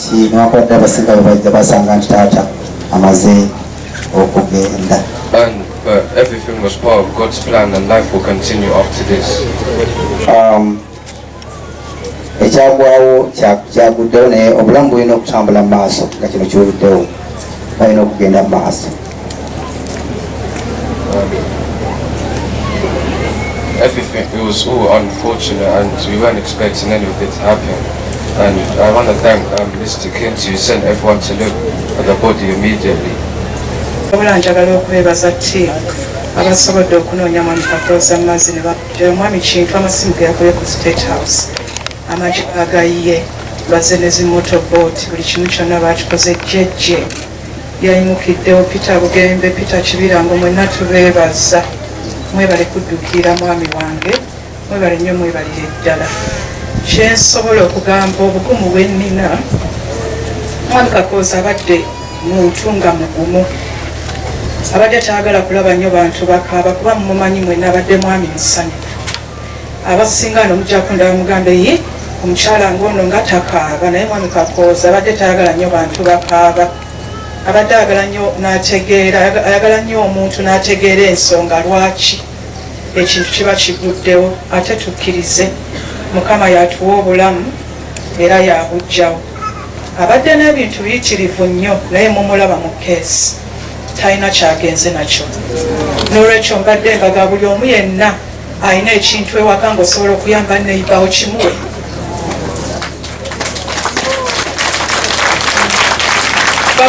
nti newankubadde abasinga bebajja basanga nti taata amaze okugenda ekyagwawo kyaguddewo naye obulamu bulina okutambula mu maaso nga kino kiwuliddewo balina okugenda mu maaso Everything, it was all unfortunate and we weren't expecting any of it to happen. And I want to thank um, Mr. Kim to send everyone to look at the body immediately. wabula njagala okwebaza ti abasobodde okunoonya mwami kakooza mu mazzi nebakujjayo omwami kintu amasimu ge yakoye ku state house amagi agayiye baze ne zimoto boat buli kimu kyonna baakikoze jjejje Yayimukiddewo Peter Bugembe, Peter Kibirango mwenna tubeebazza. Mwebale kuddukiira mwami wange, mwebale nnyo mwebalire ddala. Kye nsobola okugamba obugumu bwe nnina, mwami Kakooza abadde muntu nga mugumu. Abadde tayagala kulaba nnyo bantu bakaaba kuba mumumanyi mwenna abadde mwami musanyufu. abasinga no mujja kundaba mugambe yi omukyala ng'ono nga takaaba naye mwami kakooza abadde tayagala nnyo bantu bakaaba abadde ayagala nnyo n'ategeera ayagala nnyo omuntu n'ategeera ensonga lwaki ekintu kiba kiguddewo ate tukkirize mukama yatuwa obulamu era yabujjawo abadde n'ebintu biyitirivu nnyo naye mumulaba mu keesi talina kyagenze nakyo n'olwekyo mbadde mbaga buli omu yenna alina ekintu ewaka nga osobola okuyamba neyibawo kimuwe